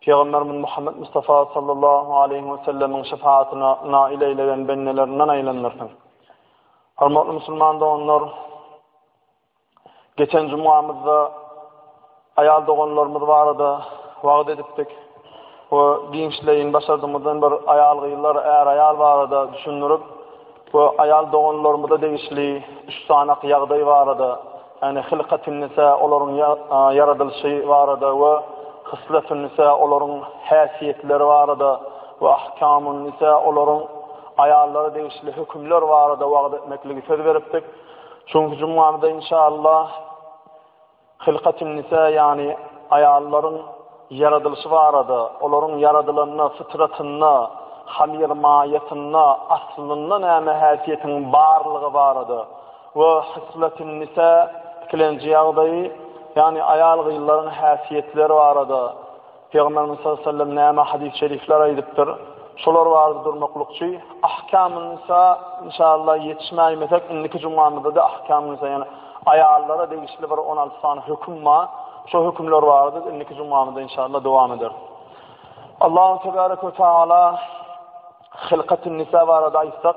Pygamberimiz Muhammed Mustafa sallallahu aleyhi ve sellemiň şefaatine nail eylegen bendelerinden aylandırsın. Hormatly musulman doganlar, geçen cumamyzda ayal doganlarymyz barada vaad edipdik ve giňişleyin başardymyzdan bir ayal gyzlar, er ayal barada düşündirip, Bu aýal doganlarymyza degişli üç sanak ýagdaý barada, ýagny Hilkatünnisa, olaryň ýaradylyşy barada we Hysletünnisa, olaryň häsiýetleri barada we Ahkamünnisa, olaryň aýallara degişli hökümler barada wagyz etmekligi söz beripdik. Şu günki jumgamyzda inşaallah. Hylkatünnisa ýagny aýallaryň ýaradylyşy barada, olaryň ýaradylanda, fytratynda, hamyr maýasynda aslynda näme häsiýetiň barlygy barada we hysletünnisa, ikilenji ýagdaýy, ýagny aýal-gyzlaryň häsiýetleri barada, Pygamberimiz sallallahu aleyhi ve sellem näme hadis şerifler aýdypdyr? Şolar barada durmaklykçy Ahkamun nisa inşallah ýetişmäýmesek indiki jumamyzda da Ahkamun nisa ýaly aýallara degişli bir on alty sany höküm bar. Şo hökümler barada indiki jumamyzda inşallah dowam ederis. Allahu tebaraka ve taala Hylkatun nisa barada aýtsak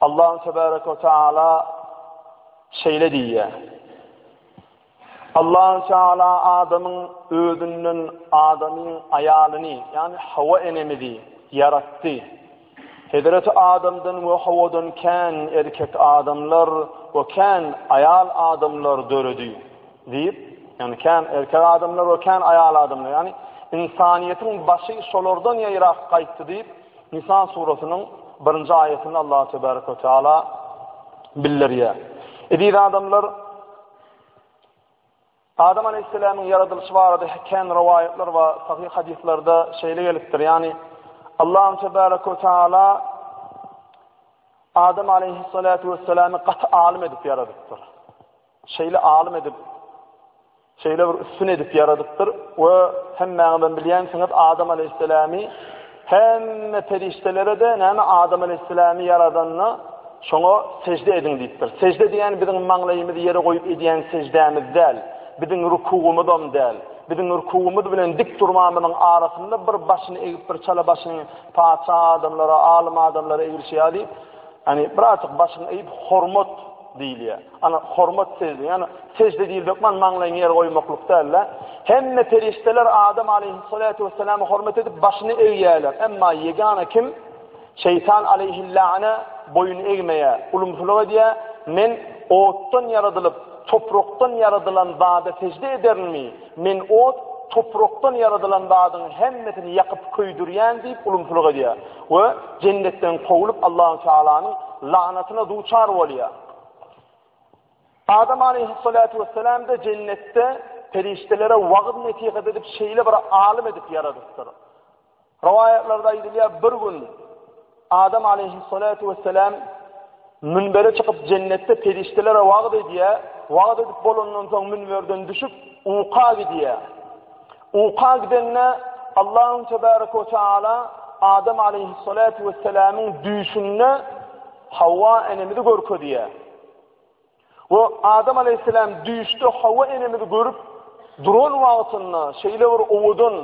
Allahum tebarek ve taala şeýle diýýär. Allahum taala adamyň özünden adamyň aýalyny, ýani Hawa enemizi ýaratdy. Hezreti Adamdan we Hawadan kän erkek adamlar we kän aýal adamlar döredi. Diýip, ýani kän erkek adamlar we kän aýal adamlar, ýani insaniýetiň başy şolardan ýaýrak gaýtdy diýip, Nisa surasynyň birinji aýatynda Allah tebärek we teala bildirýär. Eziz adamlar, Adam aleýhissalamyň ýaradylyşy barada kän rowaýatlar we sahyh hadyslarda şeýle gelipdir, ýagny Allah tebärek we teala Adam aleyhissalatu vesselami gaty alim edip yaradypdyr. Şeyli alim edip Şeýle bir üstün edip ýaradypdyr we hemmäňizem bilýänsiňiz, Adam aleýhissalamy hemme perişdelere-de näme Adam aleýhissalamy ýaradanda, şoňa sežde ediň diýipdir. Sežde diýýän biziň maňlaýymyzy ýere goýup edýän seždämiz däl, biziň rukugymyzam däl. Biziň rukugymyz bilen dik durmamyzyň arasynda bir başyny egip, bir çala başyny patyşa adamlara, alym adamlara eglişýär diýip, ýagny birazajyk başyňy eýip hormat diýilýär. Ana, hormat sežde, ýagny sežde diýilip hökman maňlaýyňy ýere goýmaklyk däl-de. Hemme perişdeler Adam aleýhyssalatu wessalamy hormat edip, başyny egýärler. Emma ýegana kim Şeýtan aleýhillane boýun egmeýär, ulumsylyk edýär, Men otdan ýaradylyp, toprakdan ýaradylan zada sežde ederinmi? Men ot, toprakdan ýaradylan zadyň hemmesini ýakyp köýdürýän diýip ulumsylyk edýär we jennetden kowlup Allahu Tealanyň lagnatyna duçar bolýar. Adam aleyhissalatu vesselam da jennetde perişdelere wagyz nesihat edip şeýle bir alim edip ýaradypdyr. Rowaýatlarda aýdylýar, bir gün Adam aleyhissalatu vesselam münbere çykyp jennetde perişdelere wagyz edýär, wagyz edip bolandan soň münberden düşüp uka gidýär. Uka gidende Allahum tebarek we taala Adam aleýhissalatu wessalamyň düýşünde Hawa enemizi görkezýär. We Adam aleýhissalam düýşde Hawa enemizi görüp duran wagtynda şeýle bir owadan,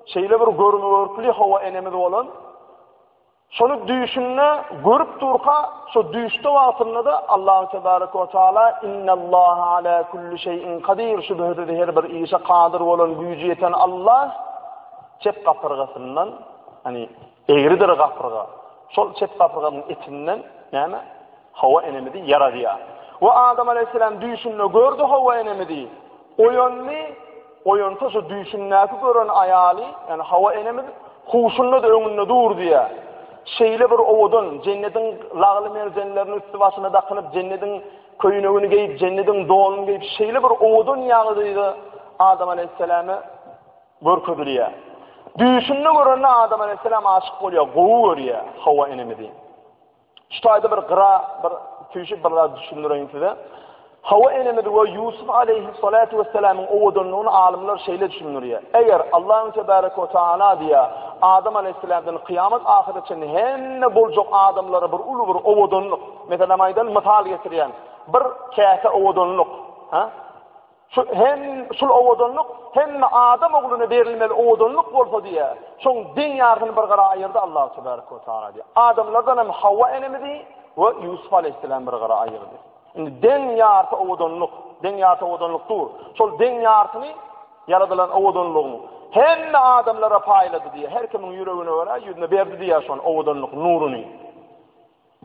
şeýle bir görme görkli Hawa enemiz bolan, Şony düýşünde görüp durka, şo düýşde wagtynda-da Allahu tebaraka we taala Innallaha ala kulli şeýin kadir, şübhesiz her bir işe kadyr bolan, güýji ýeten Allah çep gapyrgasyndan, ýani egridir gapyrga. Şol çep gapyrganyň etinden näme? Hawa enemizi ýaradýar. We Adam aleyhisselam düýşünde gördi hawa enemizi. Oýandy, oýansa şu düýşündäki gören aýaly, ýani Hawa enemiz huşunda-da öňünde dur diýýär. Şeýle bir owadan, jennediň lagly merjenlerini üsti-başyna dakynyp, jennediň köýnegini geýip, jennediň donuny geýip, şeýle bir owadan ýagdaýda Adam aleýhissalama görkezilýär. Düýşünde görende Adam aleýhissalam aşyk bolýar, gowy görýär Hawa enemizi. Şu taýda bir gyra, bir tüýşüp bir zat düşündireýin size. Hawa enemiz we Ýusuf aleyhissalatu wesselamyň owadanlygyny alymlar şeýle düşündirýär. Eger Allahu tebaraka we taala diýýär, Adam aleyhissalamdan kyýamat ahyra çenli hemme boljak adamlara bir uly bir owadanlyk, meselem aýdan mysal getirýän, bir käse owadanlyk, ha? Şu hem şul owadanlyk hemme adam ogluna berilmeli owadanlyk bolsa diýe. Şoň deň ýarsyny bir gara aýyrdy Allah tebarek we taala diýe. Adamlardan hem Hawa enemizi we Ýusup aleýhissalam bir gara aýyrdy. Indi deň ýarsy owadanlyk, deň ýarsy owadanlyk dur. Şol deň ýarsyny ýaradylan owadanlygyň hemme adamlara paýlady diýe. Her kimiň ýüregine görä ýüzüne berdi diýe şon owadanlyk nuruny.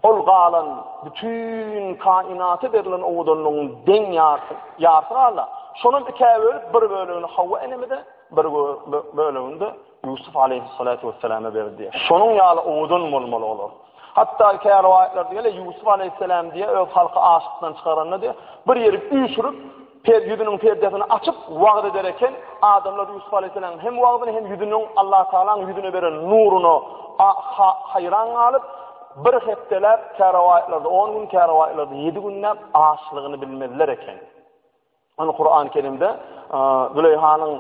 Ol galan bütin kainaty berlen owadanlygyň deň ýarty, ýarty galda, şonam ikä bölüp, bir bölegini Hawa enemize, bir bölegini-de Ýusup aleýhyssalatu wesselama berdi diýýär. Şonuň ýaly owadan bolmaly olar. Hatda käbir rowaýatlarda gelýär, Ýusup aleýhyssalam diýýär, öz halky açlykdan çykaranda diýýär, bir ýeri üýşürip, Per ýüzüniň perdesini açyp, wagyz eder eken, adamlar Ýusup alaýhyssalamyň hem wagyzyna, hem ýüzüniň Allatagalaň ýüzüne beren nuryna a-ha haýran galyp, bir hepdeläp, kä rowaýatlarda on gün, kä rowaýatlarda ýedi günläp açlygyny bilmezler eken. Ony Kurany Kerimde a-a Züleýhanyň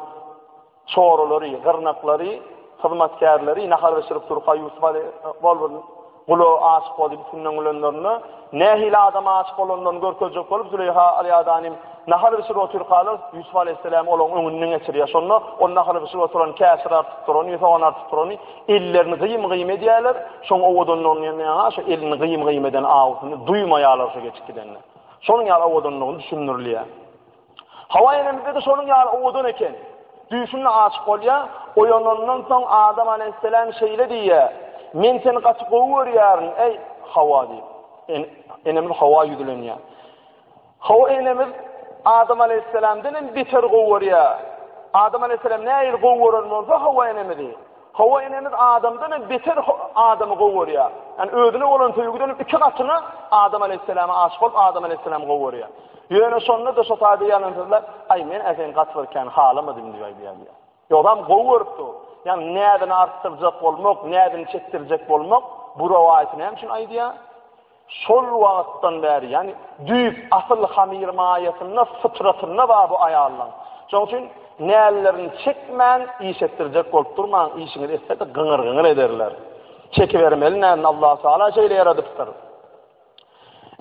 Çoralary, gyrnaklary, hyzmatkärleri nahar bişirip durka Ýusup aly bolbur gula aşyk boldy. Üstünden gülenlerinde nähili adama aşyk bolanlaryny görkezjek bolup Züleýha alyadanym nahar bişirip otyrkalar Ýusup alyhisselam olaň öňünden geçirýär. Şonda ol nahar bişirip oturan käşir artyp durany, sogan artyp durany ellerini gyýym-gyýym edýärler. Şoň owadanlygyny ýa-da şo elini gyýym-gyýym eden awusyny duýmaýarlar şo geçip gidende. Şonuň ýaly owadanlygyny düşündirilýär. Hawa enemizde-de şonuň ýaly owadan eken. Düýşünde aşyk bolýar, oýanandan soň Adam alaýhyssalam şeýle diýýär, Men seni gaty gowy görýärin, eý, Hawa diýip. Enemiz Hawa ýüzlenýär. Hawa enemiz Adam alaýhyssalamdan hem beter gowy görýär. Adam alaýhyssalam nähili gowy gören bolsa Hawa enemizi, Hawa enemiz adamdan hem beter adamy gowy görýär. Yani özüne bolan söýgüden hem iki gatyna Adam aleyhisselama aşyk bolup Adam aleyhisselam gowy görýär. Ýöne şonda da şu taýda ýalan sözler, aý men äsen gaty bir kän halamadym diýip aýdýar. Ýogsam gowy görüpdi. Yani näzini artdyrjak bolmak, näzini çekdirjek bolmak bu rowaýaty näme üçin aýdýar? Şol wagtdan bäri, ýagny düýp asyl hamyr maýasynda, fytratynda bar bu aýallaň. Şoň üçin nällerini çekmän iş etdirjek bolup durmaň, işiňiz etse-de gyňyr-gyňyr ederler. Çekibermeli nädini, Allah Taala şeýle ýaradypdyr.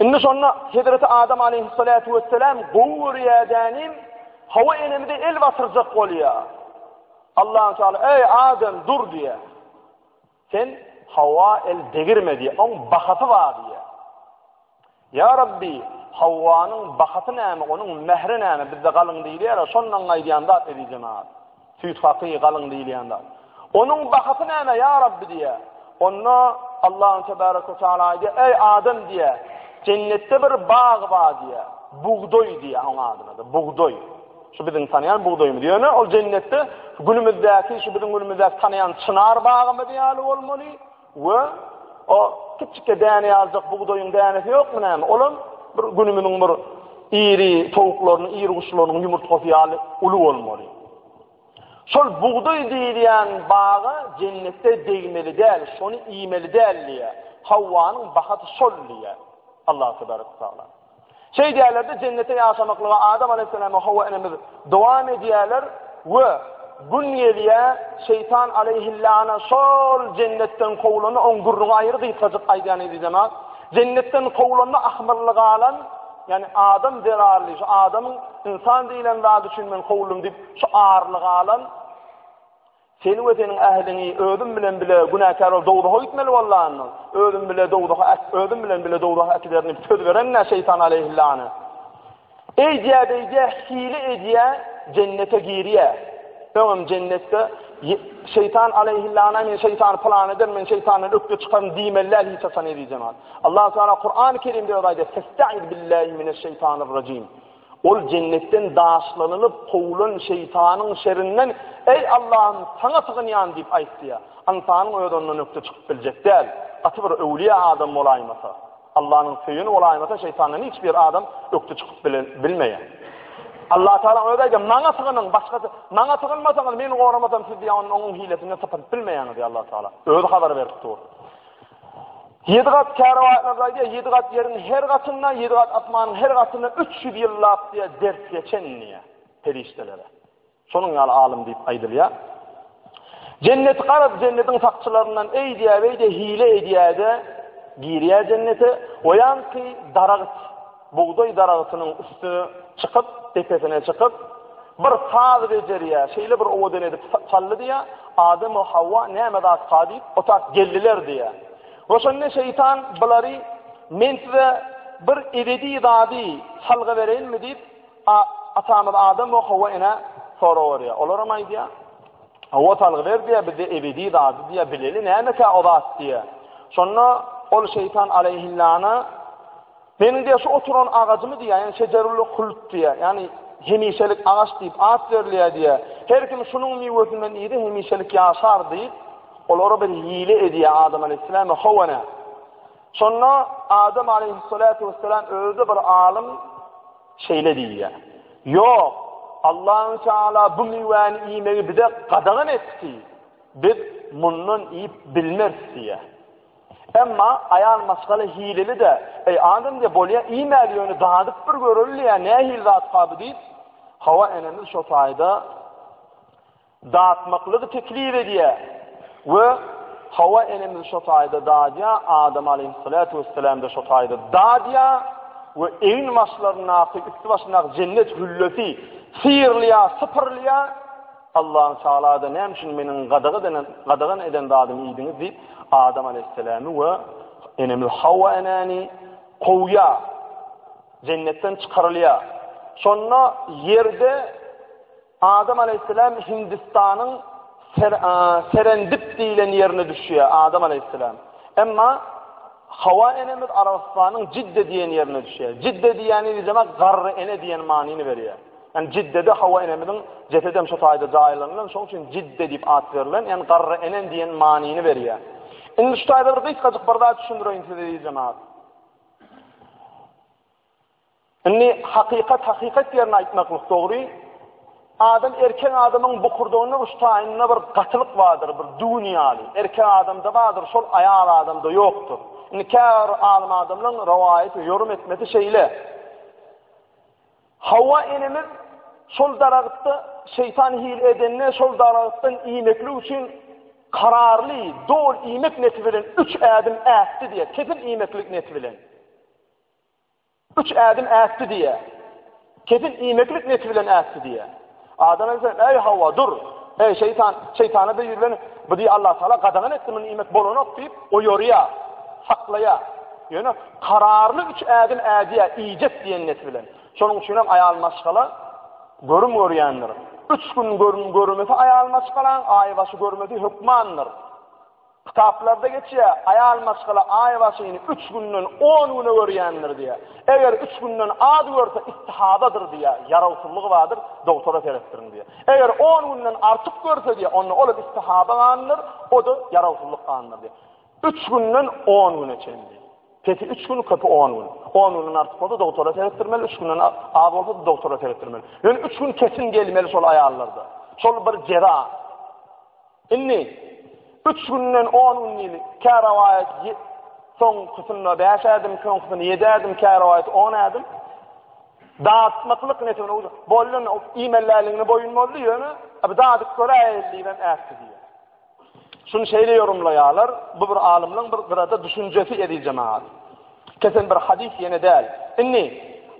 Indi şonda Hezreti Adam aleýhissalatu wessalam gowy görýädänim, Hawa enemize el batyrjak bolýar. Allah Taala, Eý Adam, dur diýýär. Sen Hawa el degirme diýýär. Oň bahasy bar diýýär. Ýa Rabbi, Hawwanyň bahasy näme, onuň mähri näme? Bizde galyň diýilýär-ä, şondan aýdýan zat ezizenat. Süýt haky, galyň diýilýän zat. Onuň bahasy näme, ýa Rabbi diýýär. Onda Allahun tebaraka we taala aýdýar, eý adam diýýär, jennetde bir bag bar diýýär, bugdaý diýýär oň adyna-da, bugdaý. Şu biziň tanaýan bugdaýymyz. Ýöne ol jennetde günümizdäki, şu biziň günümizdäki tanaýan çynar bagymyz ýaly bolmaly we o kiçikde däne ýaljak bugdaýyň dänesi ýokmy näme? Olam bir günümiziň bir iri towuklarynyň, iri guşlarynyň ýumurtgasy ýaly uly bolmaly. Şol bugdaý diýilýän baga jennetde degmeli däl, şony iýmeli däl diýýär. Hawwanyň bahaty şol diýýär. Allah tebaraka taala. Şeýdýärler-de, Jennete ýaşamaklyga Adam alaýhyssalam we Hawa enemiz dowam edýärler we gün gelýär, Şeýtan alaýhylana şol Jennetden kowlanda oň gürrüňi aýry gysgajyk aýdýan eziz jemaat. Jennetden kowlanda ahmyrly galan, ýagny adam zerarly, şu adamyň ynsan diýlen zady üçin men kowuldym diýip, şu arly galan, Seni we seniň ähliňi özüm bilen bile günäkär bolup dowzaha gitmeli bolanyny, özüm bile dowzaha äk, özüm bilen bile dowzaha äkiderin diýip söz berenine şeýtan aleýhillany. Eýdýä beýdýä hile edýä jennete girýä. Öňem jennetde şeýtan aleýhillana men şeýtany pylan ederin, men şeýtandan ökde çykaryn diýmeli däl hiç haçan eziz jemaat. Allah Taala Kur'an-Kerimde öwrady. Festaiz billahi mineş şeýtanir rajim. Ol jennetden daşlanylyp, kowulan şeýtanyň şerinden, Eý, Allahym, Saňa sygynýan! diýip aýtdy-ýa, ynsanyň özi ondan ökde çykyp biljek däl, gaty bir öwlüýä adam bolaýmasa. Allanyň söýeni bolaýmasa, şeýtandan hiç bir adam ökde çykyp bilmeýär. Allatagala Özi aýdýar, Maňa sygynyň, başgasy, Maňa sygynmasaňyz, Meni goramasam, siz ýa ony oňuň hilesinden sypadyp bilmeýäňiz diýip Allatagala Özi habar berip dur. Ýedi gat kärwatlarda diýýär, ýedi gat ýeriň her gatynda, ýedi gat asmanyň her gatynda üç ýüz ýyllap diýýär, ders geçen diýýär perişdelere. Şonuň ýaly alym diýip aýdylýar. Jenneti garaz, jennetiň sakçylaryndan eý diýýär, beý diýýär, hile edýär-de, girýär jennete, oýanky daragyt. Bugdaý daragtynyň üstüne çykyp, depesine çykyp, bir saz bejerýär, şeýle bir owadan edip çaldy diýýär, Adam we Hawa näme zatkaa diýip, otaq geldiler diýýär. We şonda şeýtan bulary, Men size bir ebedi zady salgy bereýinmi diýip, atamyz Adam we Hawa enä sorag berýär. Olar hem aýdýar, Hawa salgy ber diýýär, biz ebedi zady diýýär, bileli nämekä o zat diýýär. Şonda ol şeýtan aleýhillana Meniň diýýär, şu oturan agajymy diýýär, ýani şejerul-huld diýýär, ýani hemişelik agaç diýip at berilýär diýýär. Her kim şunuň miwesinden iýse hemişelik ýaşar diýip, olara bir hile edýär Adam aleýhissalam we Hawa-na. Şonda Adam aleýhissalatu wessalam özi bir alym şeýle diýýär. Ýok, Allahu Teala bu miwäni iýmegi bize gadagan etdi. Biz mundan iýip bilmeris diýýär. Emma aýal maşgala hileli-dä, Eý, adam diýýär, bolýa, iýmäli ýöne dadyp bir göreli diýýär, nähili zatka bu diýip, Hawa enemiz şo taýda datmaklygy teklip edýär we Hawa enemiz şo taýda dadýar, Adam aleýhissalatu wessalam-da şo taýda dadýar we egin başlaryndaky, üsti başyndaky jennet hüllesi syýrylýar, sypyrylýar. Allan Tagala-da näme üçin meniň gadagan eden zadym iýdiňiz diýip, Adam aleýhissalamy we enemiz Hawa enäni kowýar. Jennetden çykarylýar. Şonda ýerde Adam aleýhissalam Hindistanyň Serendip diýlen ýerine düşýär Adam aleýhissalam. Emma Hawa enemiz Arabystanyň Jidde diýen ýerine düşýär. Jidde diýýäni bizema garry ene diýen manyny berýär. Ýani Jiddede Hawa enemiziň jesedem şo taýda jaýlanylan, şoň üçin Jidde diýip at berlen, ýani garry enen diýen manyny berýär. Indi şu taýda bir gysgajyk bir zat düşündireýin size eziz jemagat. Indi hakykat hakykat ýerine aýtmaklyk dogry. Adam erkek adamyň bukurdagynda uç taýynda bir gatylyk bardyr, bir düwün ýaly. Erkek adamda bardyr, şol aýal adamda ýokdur. Indi käbir alim adamlaryň rowaýaty ýorum etmesi şeýle. Hawa enemiz şol daragtda şeýtan hile edende şol daragtdan iýmeklik üçin kararly, dol iýmek neti bilen üç ädim ätdi diýe, kesin iýmeklik neti bilen. Üç ädim ätdi diýe. Kesin iýmeklik neti bilen ätdi diýe. Adam ense, Eý, Hawa, dur! Eý, şeýtan, şeýtana-da ýüzlen! Bizi Allatagala gadagan etdi, mundan iýmek bolanok diýip, oýarýar, saklaýar. Ýöne kararly üç ädim ädýär, iýjek diýen net bilen. Şonuň üçin hem aýal maşgala görüm görýändir. Üç gün görüm görmese aýal maşgalaň, aýbaşy görmese hökmandyr. Kitaplarda geçýär, Aýal maşgala aý başyny üç günden on güne görýändir diýýär. Eger üç günden az görse, istihadadyr diýýär, ýarawsyzlygy bardyr, dogtora seretdiriň diýýär. Eger on günden artyk görse diýýär, onda ol hem istihada ganydyr, o-da ýarawsyzlyk ganydyr diýýär. Üç günden on güne çenli. Pesi üç gün, köpi on gün. On günden artyk bolsa, dogtora seretdirmeli, üç günden az bolsa-da dogtora seretdirmeli. Ýöne üç gün kesin gelmeli şol aýallarda. Şol bir jeza. Indi, üç günden on gün diýli, kä rowaýat soňkysynda bäş ädim, soňkysynda ýedi ädim, kä rowaýat on ädim. Datmaklyk nesibine uýdy. Boldy, iýmelläligine boýun boldy, ýöne bir dadyp göräýeli diýibem ätdi diýýär. Şuny şeýle ýorumlaýarlar, bu bir alymlaryň bir gyrada düşünjesi, eziz jemagat. Kesen bir hadys ýene däl. Indi,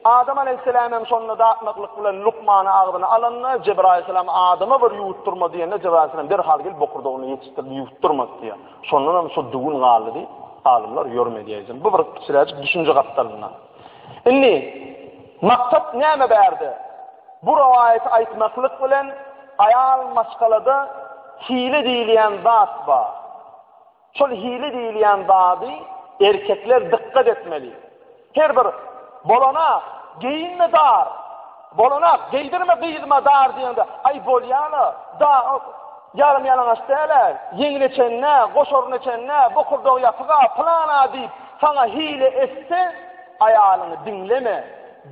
Adam aleýhissalam hem şonda dakmaklyk bilen lukmany agzyna alanda, Jebraýyl aleýhissalam Adama bir ýuwutdyrma diýende, Jebraýyl aleýhissalam derhal gelip bokurdagyny ýetişdirdi, ýuwutdyrmady diýýär. Şondan hem şo düwün galdy diýip, alymlar ýörüm edýäýjin. Bu bir kiçiräjik düşünje gapdalyndan. Indi, maksat näme bärde? Bu rowaýaty aýtmaklyk bilen, aýal maşgalada hile diýilýän zat bar. Şol hili diýilýän zady erkekler dykgat etmeli. Her bir Bolana geýinme dar, bolana geýdirme gyzyma dar diýende, aý bolýa-la, da ýarym ýalaňaç däl-ä, ýeňine çenli-ä, goşaryna çenli-ä, bokurdagy ýapyk-a, pylan-a diýip, saňa hile etse, aýalyňy diňleme.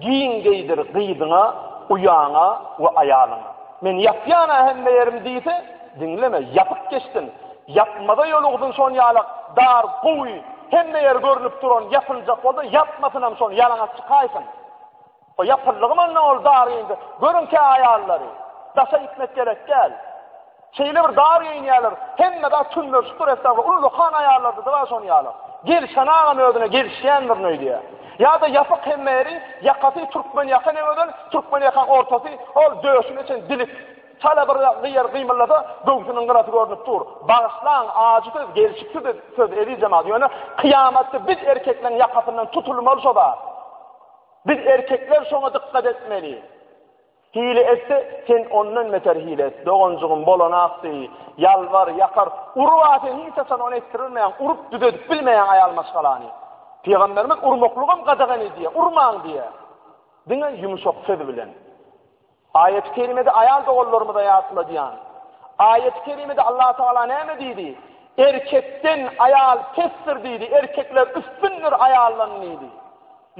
Giň geýdir gyzyňa, uýaňa we aýalyňa. Men ýapýan-a hemme ýerim diýse, diňleme, ýapyp geçsin. Ýapmaza ýolugzyn şonýalak dar, gowy, hemme ýer görnüp duran ýapyljak bolsa, ýapmasynam şony, ýalaňaç çykaýsyn. O ýapyldygy mandan ol dar geýindi. Görüň kä aýallary. Daşa gitmek gerek däl. Şeýle bir dar geýinýärler, hemme zat tünnürşikdir estagfir, uly dokan aýallardyr-a şony ýaly. Gelşen agam özüne gelişýändirin öýdýär. Ýa-da ýapyk hemme ýeri, ýakasy türkmen ýaka ne gözel, türkmen ýakaň ortasy, ol döşüne çen dilik. Çala bir gyýar gymyldasa, göwsüniň gyrasy görnüp dur. Bagyşlaň, ajy söz, gelşiksiz söz eziz jemagat, ýöne kyýamatda biz erkekleň ýakasyndan tutulmaly şo zat. Biz erkekler şoňa dykgat etmeli. Hile etse, sen ondan beter hile et, doganjygym, bolany akdy, ýalbar, ýakar, uruba sen hiç haçan ony etdirilmeýäň, urup düzedip bilmeýäň aýal maşgalany. Pygamberimiz urmaklygam gadagan edýär, urmaň diýýär. Diňe ýumşak söz bilen. Aýaty kerimede aýal doganlarymyza ýatladýan. Aýaty kerimede Allah Tagala näme diýdi? Erkekden aýal pesdir diýdi, erkekler üstündir aýaldan diýdi.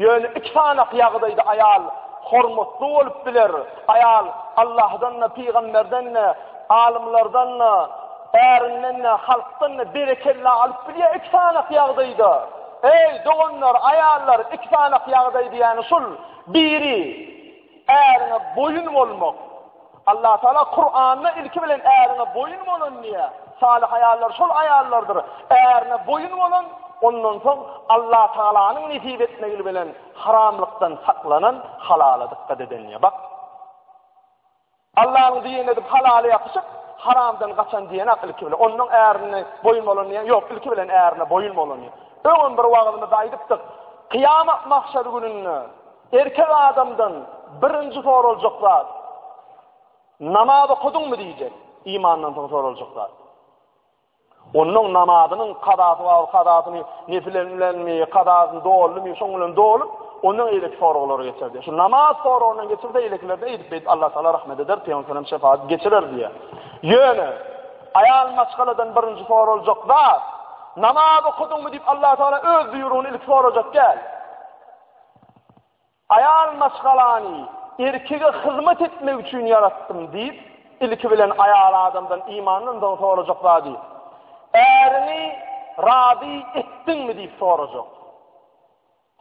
Ýöne iki sanaky ýagdaýda aýal hormatly bolup biler, aýal Allahdan-da, pygamberden-de, alymlardan-da, ärinden-de, halkdan-da berekella alyp bilýär iki sanaky ýagdaýda. Eý, doganlar, aýallar, iki sanaky ýagdaý diýýäni şul, biri, äriňe boýun bolmak, Allatagala Kuranda ilki bilen ärine boýun bolun diýýär. Salyh aýallar şol aýallardyr. Ärine boýun bolun, ondan soň Allatagalanyň nesip etmegi bilen haramlykdan saklanan, halala dykgat eden diýýär. Bak. Allanyň diýeni edip halala ýapyşyp, haramdan gaçan diýenak ilki bilen. Ondan ärine boýun bolun diýýär. Ýok, ilki bilen ärine boýun bolun diýýär. Öňem bir wagyzymyzda aýdypdyk. Kyýamat mahşer gününde Erkek adamdan birinji soraljak zat, namaz okudyňmy diýjek, imandan soň soraljak zat. Onuň namazynyň kazasy bar, kazasyny nefilen bilenmi, kazasyny doldumy, şoň bilen dolup, ondan eýleki soraglar geçerdi. Şu namaz soragyndan geçirse eýlekilerde eýdip beýdip Allah Taala rahmet eder, Peygamber sallam şefaat geçirer diýe. Ýöne aýal maşgaladan birinji soraljak zat namaz okudyňmy diýip Allah Taala öz buýrugyny ilki sorajak däl. Aýal maşgalany erkege hyzmat etmek üçin ýaratdym diýip, ilki bilen aýal adamdan imandan soň sorajak zady, Äriňi razy etdiňmi diýip sorajak.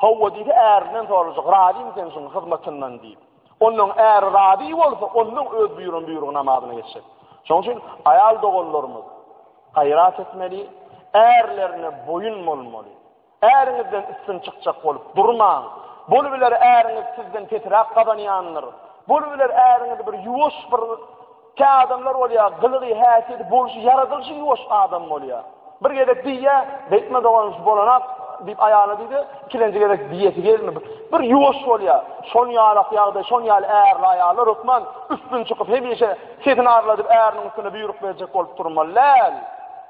Howwa diýse ärinden sorajak, Razymy sen şuň hyzmatyndan diýip. Ondan äri razy bolsa, ondan öz buýran buýrugy namazyna geçjek. Şoň üçin aýal doganlarymyz gaýrat etmeli, ärlerine boýun bolmaly. Äriňizden üstün çykjak bolup durmaň. Bolubiler äriňiz sizden pesiräk gazanýandyr. Bolubiler äriňiz bir ýuwaş bir kä adamlar bolýar, gylygy, häsiýeti, bolşy, ýaradylyşy ýuwaş adam bolýar. Bir gezek diýýä, Beýtme dogan şu bolanak diýip aýalyna diýdi, ikilenji gezek diýesi gelme. Bir ýuwaş bolýar. Şon ýalak ýagdaý, şon ýaly ärli aýallar hökman üstün çykyp hemişe sesini arladyp äriniň üstüne buýruk berjek bolup durmaly däl.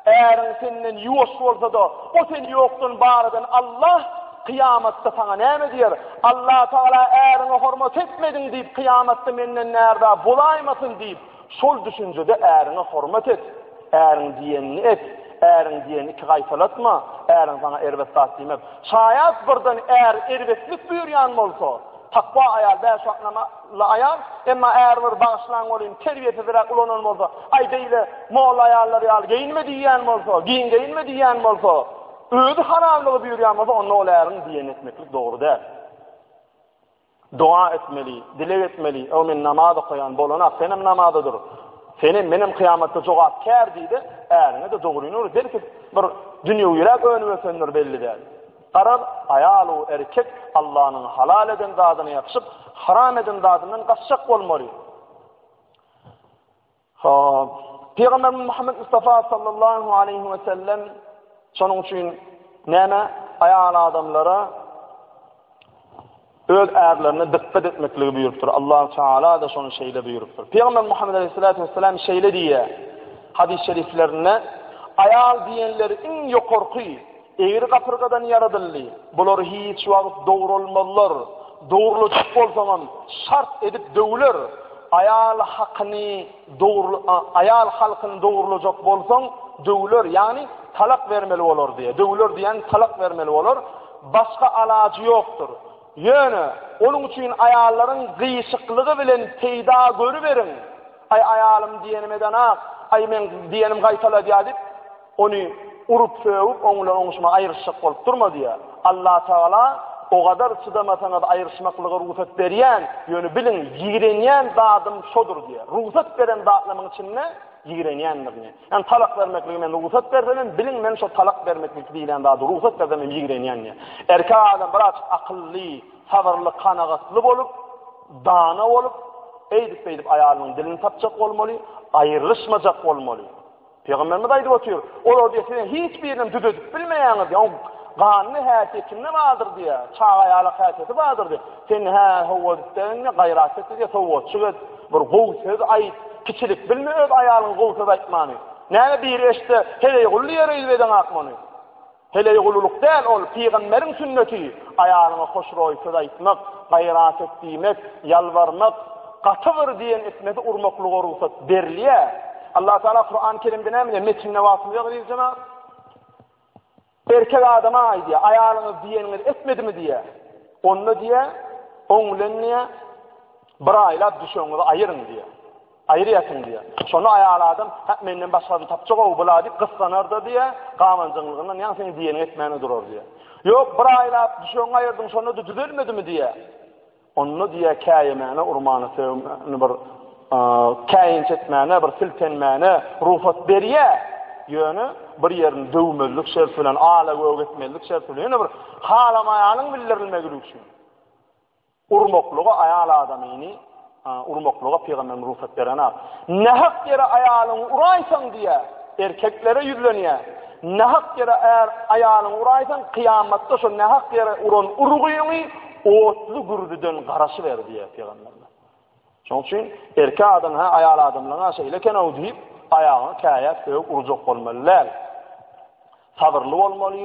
Äriň senden ýuwaş bolsa-da, o seni ýokdan bar eden Allah kyýamatda saňa näme diýer? Allatagala äriňe hormat etmediň diýip, kyýamatda menden närza bolaýmasyn diýip, şol düşünjede äriňe hormat et. Äriň diýenini et. Äriň diýenini iki gaýtalatma. Äriň saňa erbet zat diýmez. Şaýat birden är erbetlik buýurýan bolsa, takwa aýal bäş wagt namaz Ly aýal, emma äri bir bagyşlaň welin terbiýesizräk ulanan bolsa, aý beýle molla aýallar ýaly geýinme diýýän bolsa, giň geýinme diýýän bolsa, özi haramlygy buýurýan bolsa onda ol äriň diýenini etmeklik dogry däl. Doga etmeli, dileg etmeli, o men namaz okaýan bolanak senem namaza dur. Senem menem kyýamatda jogapkär diýdi, äriňe de dogryny ur, belki bir dünýewiräk önüp ötendir belli däl. Garaz, aýal we erkek Allanyň halal eden zadyna ýapyşyp, haram eden zadyndan gaçjak bolmaly. Hop. Pygamberimiz Muhammed Mustafa sallallahu aleyhi we sellem şonuň üçin näme aýal adamlara öz ärlerine dykgat etmekligi buýrupdyr. Allahu Teala-da şony şeýle buýrupdyr. Pygamber Muhammet Aleyhissalatu Vesselam şeýle diýýär, Hadys şeriflerinde, Aýal diýenleri iň ýokarky, egri gapyrgadan ýaradyldy. Bular hiç wagt dogralmazlar, dogrulajak bolsaňam, şart edip döwler. Aýal hakyny Dogurly, a, aýal halkyny dogurlajak bolsaň, döwüler, ýagny talak bermeli bolar diýýär. Döwüler diýýän talak bermeli bolar. Başga alajy ýokdur. Ýöne, onuň üçin aýallaryň gyýşyklygy bilen peýda görüberiň. Aý, aýalym diýenim edenak, aý, meň diýenim gaýtaladýar diýip, Ony urup-sögüp, oň bilen oňuşmagy aýryşjak bolup durma diýýär. Allatagala, O gadar çydamasaňyz aýryşmaklyga rugsat berýän, ýöne biliň, ýigrenýän zadym şodur diýýär. Rugsat beren zatlarymyň içinde ýigrenýändirini. Ýagny talak bermekligi men rugsat bersem hem, biliň, men şo talak bermeklik diýlen zady rugsat bersem hem ýigrenýän diýýär. Erkek adam birazajyk akylly, sabyrly, kanagatly bolup, dana bolup, eýdip-beýdip aýalynyň dilini tapjak bolmaly, aýrylyşmajak bolmaly. Pygamberimiz aýdyp otyr, olar diýe siziň hiç biriniň düzedip bilmeýäňiz diýe, oň ganyny häsiýetinde bardyr diýe, çaga ýalak häsiýeti bardyr diýe, sen hä howwa diýdiň, gaýrat et diýe, sowgatçyk et, bir gowy söz aýt, kiçilik bilme öz aýalyňa gowy söz aýtmany, näme biri eşitse, heleý gully ýere ýüzbedeňak muny. Heleý gululyk däl ol, pygamberiň sünneti, aýalyňa hoşroý söz aýtmak, gaýrat et diýmek, ýalbarmak, gaty bir diýen etmesi urmaklyga rugsat berilýär. Allah Taala Kurany Kerimde näme diýýär? Metinde wagtymyz ýok eziz jemaat. Erkek adama aýdýar, aýalyňyz diýeniňizi etmedimi diýýär. Onda diýýär, oň bilen diýýär, bir aýlap düşeňizi aýyryň diýýär. Aýyrýarsyň diýýär. Şonda aýal adam, Hä, menden başgasyny tapjak-ow bula diýip gyssanar-da diýýär, gabanjaňlygyndan ýaňa seň diýeniňi etmän-de durar diýýär. Ýok, bir aýlap düşegiňi aýyrdyň, şonda-da düzelmedimi diýýär. Onda diýýär, käýemäne urmana sögmäne bir käýinç etmäne, bir siltenmäne rugsat berýär, ýöne bir ýerini döwmezlik şerti bilen, ala-göge etmezlik şerti bilen, ýöne bir halamaýanyň bildirilmegi üçin. Urmaklyga aýal adamyny urmaklyga pygamberiň rugsat berenat. Nähak ýere aýalyňy uraýsaň diýýär, erkeklere ýüzlenýär. Nähak ýere är aýalyňy uraýsaň, kyýamatda şo nähak ýere uran urgyňy otly gürzüden garaşyber diýýär pygamberimiz. Şonuň üçin erkek adam hä aýal adamlaryň-a şeýle eken-ow diýip, aýagyňy käýäp sögüp urjak bolmaly däl. Sabyrly bolmaly,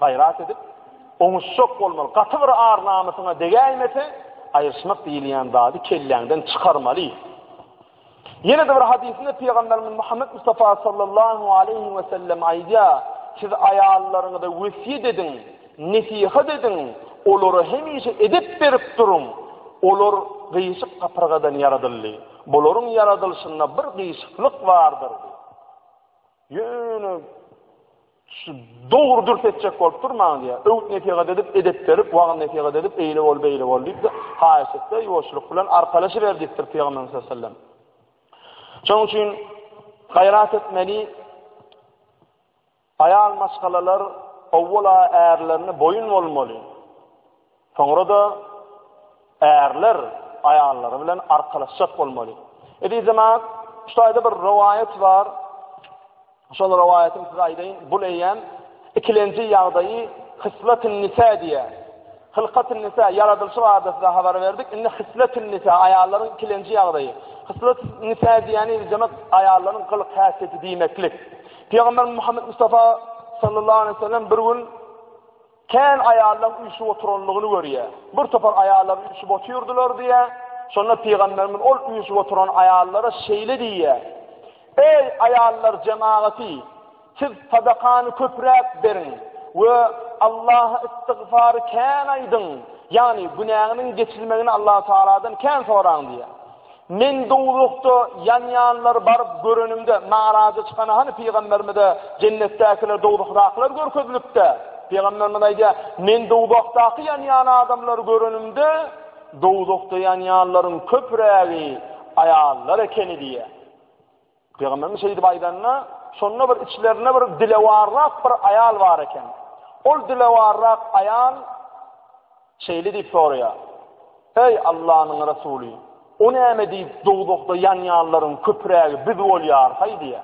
gaýrat edip, oňuşjak bolmaly. Gaty bir ar-namysyňa degäýmese, aýryşmak diýilýän zady kelläňden çykarmaly. Ýene-de bir hadysynda Pygamberimiz Muhammet Mustafa sallallahu aleýhi we sellem aýdýar, Siz aýallaryňyza wesýet ediň, Nesihat ediň, olara hemişe edep berip duruň. Olar gyşyk gapyrgadan ýaradyldy. Bularyň ýaradylyşynda bir gyşyklyk bardyr. Ýöne şu dogry dürs etjek bolup durmaň diýýär. Öwüt-nesihat edip, edep berip, wagyz-nesihat edip, eýle bol, beýle bol diýip-de, haýyş et-de, ýuwaşlyk bilen arkalaşyber diýipdir Pygamberimiz sallallahu aleyhi ve sellem. Şonuň üçin gaýrat etmeli, Aýal maşgalalar owwala ärlerine boýun bolmaly, soňra-da ärler aýallary bilen arkalaşjak bolmaly. Ezizjemat, şu taýda bir rowaýat bar. Şol rowaýaty size aýdaýyn. Bu eýýäm ikilenji ýagdaýy Hyslatyn Nisa diýýär. Hylkatyn Nisa ýaradylyşy barada size habar berdik. Indi Hyslatyn Nisa aýallaryň ikilenji ýagdaýy. Hyslatyn Nisa diýýäni ezizjemat aýallaryň gylyk-häsiýeti diýmeklik. Pygamberimiz Muhammed Mustafa sallallahu aleyhi ve sellem bir gün kän ayallam üşüp oturanlygyny görýär. Bir topar ayallar üşüp otyrdylar diýär. Şonda pygamberimiz ol üşüp oturan ayallara şeýle diýýär. Ey ayallar jemaati, siz sadakany köpräk beriň we Allaha istigfar kän aýdyň. Ýagny günäňiň geçilmegini Allah Taaladan kän soraň diýýär. Men dowzahda ýanýanlary baryp görenimde, Maraja çykanda hany pygamberimize jennetdäkiler, dowzahdakylar görkezilipdi? Pygamberimiz aýdýar, Men dowzahdaky ýanýan adamlary görenimde, dowzahda ýanýanlaryň köprägi aýallar ekeni diýýär. Pygamberimiz şeýdip aýdanda, şonda bir içlerinde bir dilewarrak bir aýal bar eken. Ol dilewarrak aýal şeýle diýip soraýar. Ey Allah'ın Resulü, o näme diýip dogdukda ýanýanlaryň köprägi biz bolýar hay diýe.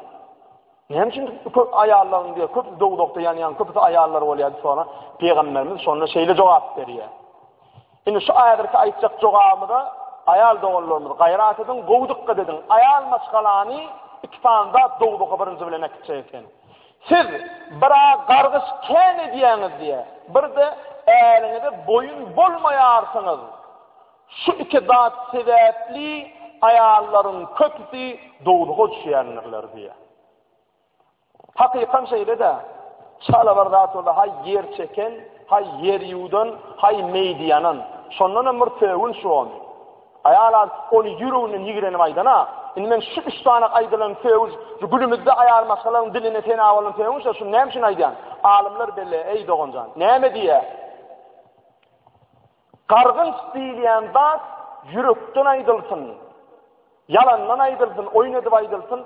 Näme üçin köp aýallaryň diýe köp dogdukda ýanýan köpüsi aýallar bolýar diýip soran. Pygamberimiz şonda şeýle jogap berýär. Indi şu häzirki aýtjak jogabymyza aýal doganlarymyz gaýrat ediň, gowy dykgat ediň. Aýal maşgalany iki sany zat dowzaha birinji bilen äkitjek eken. Siz bir-ä gargyş kän edýäňiz diýe, bir-de äriňize boýun bolmaýarsyňyz. Şu iki zat sebäpli aýallaryň köpüsi dowzaha düşýändirler diýe. Hakykam şeýle-dä. Çala bir zat boldy, haý ýer çeken, haý ýer ýuwdan, haý meýdi ýanan. Şondanam bir sögün şu ony. Aýal az ony ýüreginden ýigrenip aýdan-a. Indi men şu üç sany aýdylan sögün, şu günümizde aýal maşgalaň diline sena bolan sögün-şä, şuny näme üçin aýdýan? Alymlar belle, eý doganjan. Näme diýýä? Gargynç diýilýän zat ýürekden aýdylsyn, ýalandan aýdylsyn, oýun edip aýdylsyn,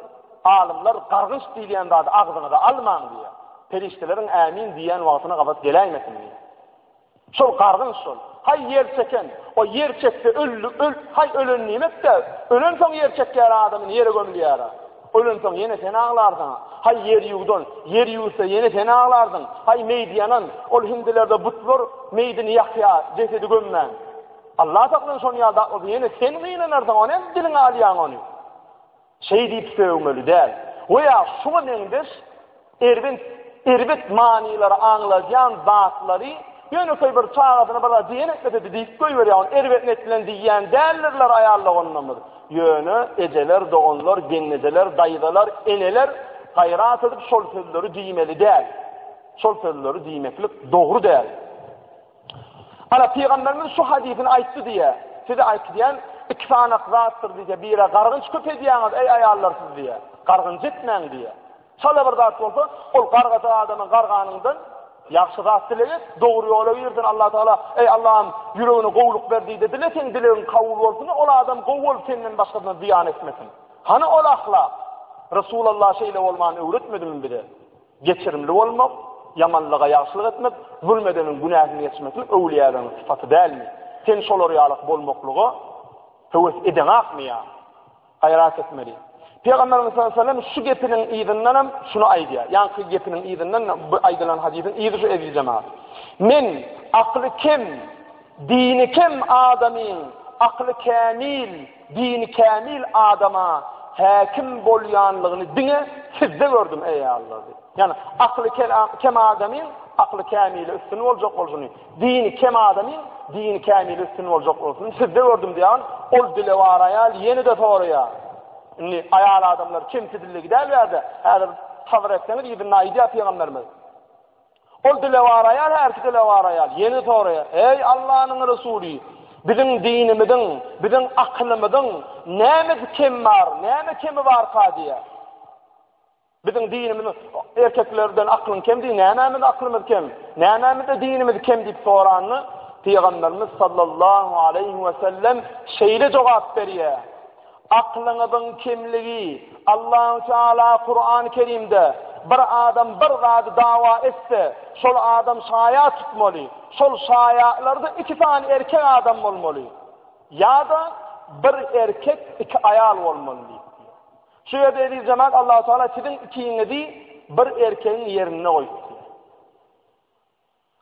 alymlar gargynç diýilýän zady agzyňyza almaň diýýär. Perişdeleriň ämin diýýän wagtyna gabat geläýmesin diýýär. Şol gargynç şol. Haý ýer çeken, o ýer çekse öldi, öl, haý ölen niýmek-dä, ölensoň ýer çekýär adamyny ýere gömülýär-ä. Ölensoň ýene sen aglarsyň. Haý ýer ýuwdan, ýer ýuwsa ýene sen aglarsyň. Haý meýdi ýanan, ol hindilerde butlar meýdini ýakýar, jesedi gömmän. Allah saklasyn şon ýaly zat bolsa ýene sen gynanarsyň, ony hem diliňe alýaň ony. Şeý diýip sögmeli däl. Goýa şuňa meňzeş Erbet, erbet manylary aňladýan zatlary ýönekeý bir çagasyna bir zat diýen etmesedi diýip goýberýär, ony erbet net bilen diýýän däldirler aýal doganlarymyz. Ýöne ejeler, doganlar, gelnejeler, daýzalar, eneler gaýrat edip şol sözleri diýmeli däl. Şol sözleri diýmeklik dogry däl. Ana pygamberimiz şu hadysyny aýtdy diýýär. Size aýtýan iki sanak zatdyr diýýär. Bire gargynç köp edýäňiz eý aýallar siz diýýär. Gargynç etmäň diýýär. Şeýle bir zat bolsa, ol gargajak adamyň garganyňdan ýagşy zat dileg et, dogry ýola girsin, Allatagala, Eý, Allahym, ýüregine gowulyk ber diý-de dile, seň dilegiň kabul bolsun-da, ol adam gowy bolup, senden başgasyna zyýan etmesin. Hany ol ahlak? Resulallah şeýle bolmany öwretmedimi bize? Geçirimli bolmak, ýamanlyga ýagşylyk etmek, zulm edeniň günäsini geçirmeklik öwlüýäleriň sypaty dälmi? Sen şolar ýalak bolmaklyga höwes edeňakmy ýa? Gaýrat etmeli. Pygamberimiz sallallahu aleyhi ve sellem şu gepiniň yzyndan hem şunu aýdýar. Ýaňky gepiniň yzyndan bu aýdylan hadysyň yzy şu eziz jemaat. Men akly kem, dini kem adamyň akly kämil, dini kämil adama häkim bolýanlygyny diňe sizde gördüm eý Allah. Ýani akly kem adamyň akly kämili üstün boljak bolşuny Dini kem adamyň dini kämil üstün boljak bolsun. Sizde gördüm diýen ol dile bar aýal ýene-de soraýar. Indi aýal adamlar kimsi dille gidäl ýerde. Häzir sabr etseňiz ýedi naý diýýär pygamberimiz. Ol dile bar aýal her iki dile bar aýal ýene soraýar. Eý Allanyň Resuly, biziň dinimiziň, biziň akylymyzyň näme kem bar, näme kemi barka diýýär. Biziň dinimiz erkeklerden aklyň kem diýip, nämämiz aklymyz kem? Nämämizde dinimiz kem diýip soranda, Pygamberimiz sallallahu aleýhi we sellem şeýle jogap berýär, Aklyňyzyň kemligi, Allahu Teala Kurany Kerimde, Bir adam bir zady dawa etse, şol adam şaýat tutmaly, şol şaýatlarda iki sany erkek adam bolmaly, ýa-da bir erkek, iki aýal bolmaly diýip. Şu ýerde ezizjemal Allahu Teala siziň ikiňizi bir erkegiň ýerinde goýupdy.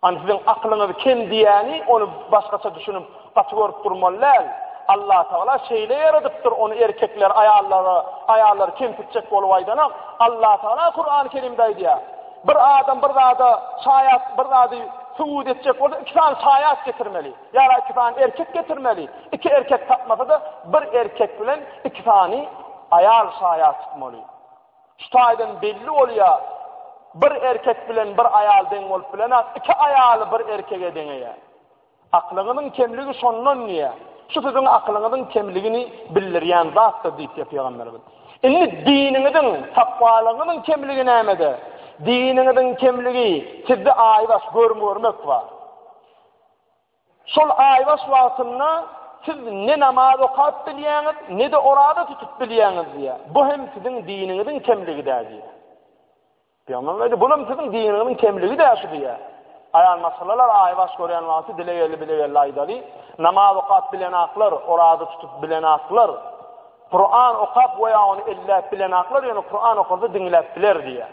An siziň aklyňyz kem diýýäni ony başgaça düşünip gaty görüp durmaly däl. Allahu Teala şeýle ýaradypdyr ony erkekler aýallara, aýallar kemsitjek bolup aýdanok. Allahu Teala Kur'an-y Kerimde aýdýar. Bir adam bir zada şaýat, bir zady subut etjek bolsa, iki sany şaýat getirmeli. Ýa-da iki sany erkek getirmeli. Iki erkek tapmasa-da, bir erkek bilen iki sany aýal şaýat tutmaly. Şu taýdan belli bolýar, bir erkek bilen bir aýal deň bolup bilenok, iki aýaly bir erkege deňeýär. Aklyňyzyň kemligi şondan diýýär. Şu siziň aklyňyzyň kemligini bildirýän zatdyr diýipdir Pygamberimiz. Indi diniňiziň, takwalygyňyzyň kemligi nämede? Diniňiziň kemligi sizde aýbaş görüm görmek bar. Şol aýbaş wagtynda siz ne namaz okap bilýäňiz, ne-de oraza tutup bilýäňiz diýýär. Bu hem siziň diniňiziň kemligi-dä diýýär. Pygamberimiz aýtdy, Bulam siziň diniňiziň kemligi-dä şu diýýär. Aýal maşgalalar aýbaş görýän wagty dilegelli-bilegelli aýdaly, Namaz okap bilenaklar, oraza tutup bilenaklar, Kuran okap we ýa ony elläp bilenaklar, ýöne Kuran okasa diňläp biler diýýär.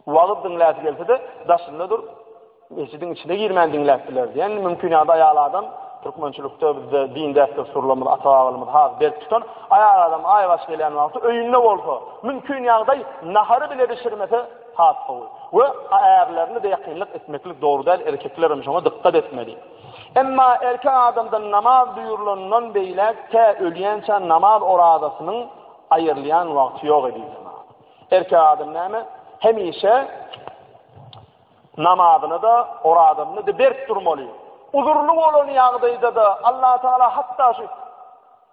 Wagyz diňläsi gelse-de, daşynda dur, mesjidiň içine girmän diňläp biler diýen mümkin ýa-da aýal adam türkmençilikde bizde din däp-dessurlarymyz, ata-babalarymyz has berk tutan, aýal adam aýbaş gelýän wagty öýünde bolsa, mümkin ýagdaý nahary bile bişirmese has gowy. We ärlerini beýakynlyk etmeklik dogry däl, erkekler hem şoňa dykgat etmeli. Emma erkek adamdan namaz buýrulandan beýläk tä ölýänçä namaz orazasynyň aýrylýan wagty ýok edilýär. Erkek adam näme? Hemişe namazyny da, orazyny da berk durmaly. Uzurly bolan ýagdaýda da Allah Taala hatda şu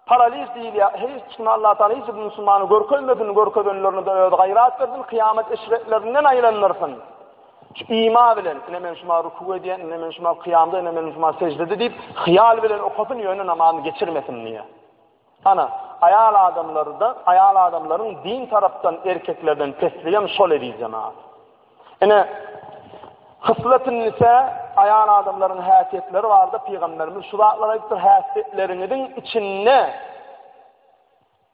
paraliz diýilýär. Hiç kim Allah Taala hiç bir musulmany görkezmesin, görkezenlerini de öz gaýrat bersin, kıyamet eşretlerinden aýlandyrsyn. Şu ima bilen, ine men şuma ruku edýän, ine men şuma kıyamda, ine men şuma secdede diýip, hyýal bilen okasyn, ýöne namazyny geçirmesin diýýär. Ana, aýal adamlarda, aýal adamlaryň din tarapdan erkeklerden pesligem şol eziz jemagat. Ine, Hyslet-ün-nisa, aýal adamlaryň häsiýetleri barada Pygamberimiz şu zatlary aýdypdyr, häsiýetleriňiziň içinde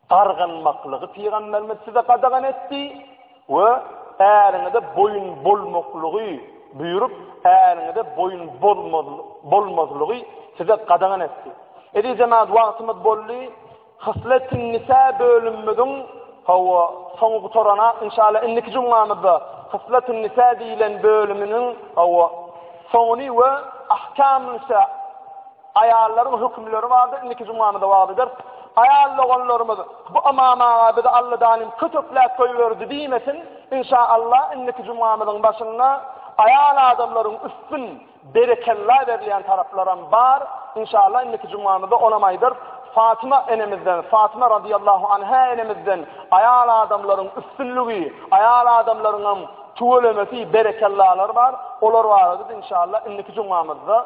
gargynmaklygy Pygamberimiz size gadagan etdi. We äriňize boýun bolmaklygy buýrup, äriňize boýun bolmazlygy size gadagan etdi. Eziz jemaat, wagtymyz boldy. Hyslet-i-nisa bölümimiziň, hawa, soňy gutarana, inşallah, indiki jumgamyzda Hyslet-i-nisa diýlen bölüminiň, hawa, soňuny we Ahkam-ül-nisa, Aýallaryň hökümleri bardyr, indiki jumamyzda wagyz eder. Aýal doganlarymyz bu Ymam aga bizi Alladanym kötekläp goýberdi diýmesin. Inşaallah indiki jumamyzyň başynda aýal adamlaryň üstün berekella berilýän taraplaram bar. Inşaallah indiki jumamyzda onam aýdarys. Fatyma enemizden, Fatyma radyýallahu anha enemizden aýal adamlaryň üstünligi, aýal adamlaryňam tüwelemesi, berekellalary bar. Olar barada biz inşaallah indiki jumamyzda